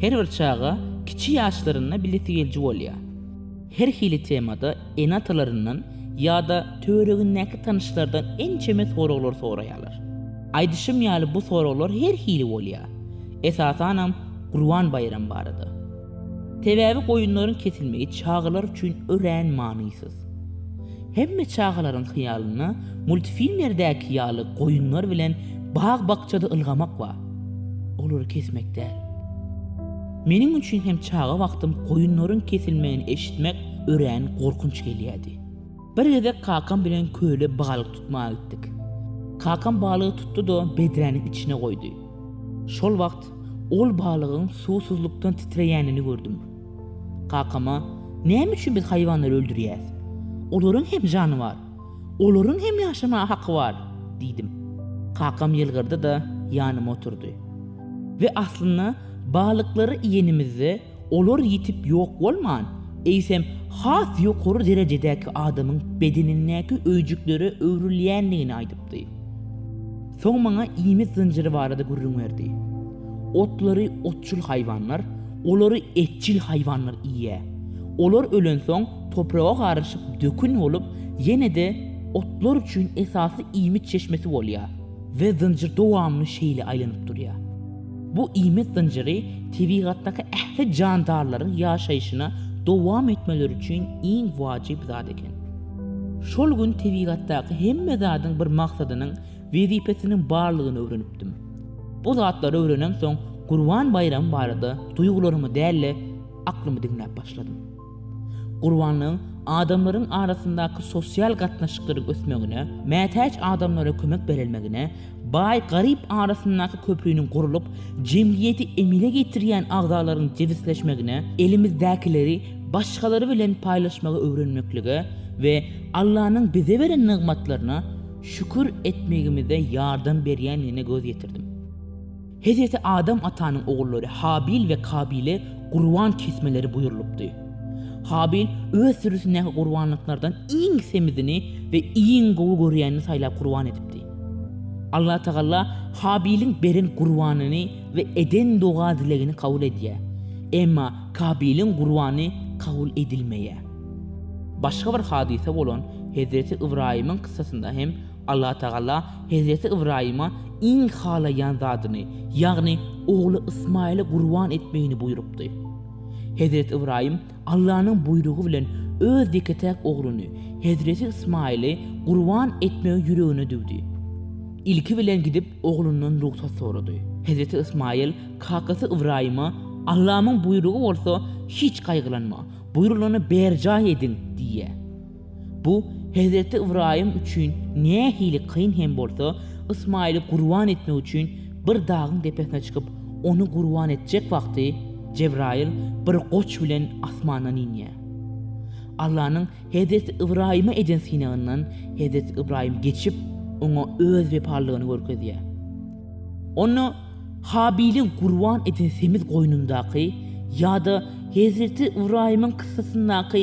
Her bir çaga kiçi ýaşlarynda bilesi geliji bolýar. Her hili temada ene-atalaryndan ýa-da töweregindäki tanyşlardan ençeme soraglar soraýarlar. Aýdyşym ýaly bu soraglar her hili bolýar. Esasanam Gurban baýramy barada. Sebäbi goýunlaryň kesilmegi çagalar üçin örän manysyz. Hemme çagalaryň hyýalynda multfilmlerdäki ýaly goýunlar bilen bag-bakjada ylgamak bar. Olary kesmek däl. Meniň üçin hem çaga wagtym goýunlaryň kesilmegini eşitmek örän gorkunç gelýärdi. Bir gezek kakam bilen köle balyk tutmaga gitdik. Kakam balygy tutdy-da bedräniň içine goýdy. Şol wagt ol balygyň suwsuzlykdan titreýänini gördüm. Kakam-a, näme üçin biz haýwanlary öldürýäs? Olaryň hem jany bar. Olaryň hem ýaşamaga haky bar, diýdim. Kakam ýylgyrdy-da, ýanyma oturdy. We aslynda balyklary iýenimizde olar ýitip ýok bolman, eýsem has ýokary derejedäki adamyň bedenindäki öýjüklere öwrülýändigini aýdypdy. Soň maňa iýmit zynjyry barada gürrüň berdi. Otlary otçul haýwanlar, olary etçil haýwanlar iýýär. Olar ölensoň, topraga garyşyp dökün bolup, ýene-de otlar üçin esasy iýmit çeşmesi bolýar we zynjyr dowamly şeýle aýlanyp durýar. Bu iýmit zynjyry tebigatdaky ähli jandarlaryň ýaşaýşyna dowam etmeleri üçin iň wajyp zat eken. Şol gün tebigatdaky hemme zadyň bir maksadynyň, wezipesiniň barlygyny öwrenipdim. Bu zatlary öwrenemsoň, Gurban baýramy barada duýgularymy däl-de, aklymy diňläp başladym. Gurbanlygyň adamlaryň arasyndaky sosial gatnaşyklaryň ösmegine, mätäç adamlara kömek berilmegine, Baý-garyp arasyndaky köpriniň gurlup, jemgyýeti emele getirýän agzalaryň jebisleşmegine, elimizdäkileri başgalar bilen paýlaşmagy öwrenmeklige we Allanyň bize beren nygmatlaryna şükür etmegimize ýardam berýändigine göz ýetirdim. Hezreti Adam atanyň ogullary Habil we Kabile gurban kesmeleri buýrulypdy. Habil öz sürüsindäki gurbanlyklardan iň semizini we iň gowy görýänini saýlap gurban edipdi. Allatagala Habiliň beren gurbanyny we eden doga-dilegini kabul edýär. Emma Kabiliň gurbany kabul edilmeýär. Başga bir hadysa bolan Hezreti Ybraýymyň kyssasynda hem Allatagala hezreti Ybraýyma iň halaýan zadyny, ýagny ogly Ysmaýyly gurban etmegini buýrupdy. Hezreti Ybraýym Allanyň buýrugy bilen öz ýeke-täk ogluny, hezreti Ysmaýyly gurban etmegi ýüregine düwdi. Ilki bilen gidip oglundan rugsat sorady. Hezreti Ysmaýyl kakasy Ybraýyma, Allamyň buýrugy bolsa, hiç gaýgylanma, buýrulany berjaý ediň! diýýär. Bu hezreti Ybraýym üçin nähili kyn hem bolsa, Ysmaýyly gurban etmek üçin bir dagyň depesine çykyp, ony gurban etjek wagty, Jebraýyl bir goç bilen asmandan inýär. Allanyň hezreti Ybraýyma eden synagyndan hezreti Ybraýym geçip, oňa öz wepalylygyny görkezýär. Onda Habiliň gurban eden semiz goýnundaky ýa-da hezreti Ybraýymyň kyssasyndaky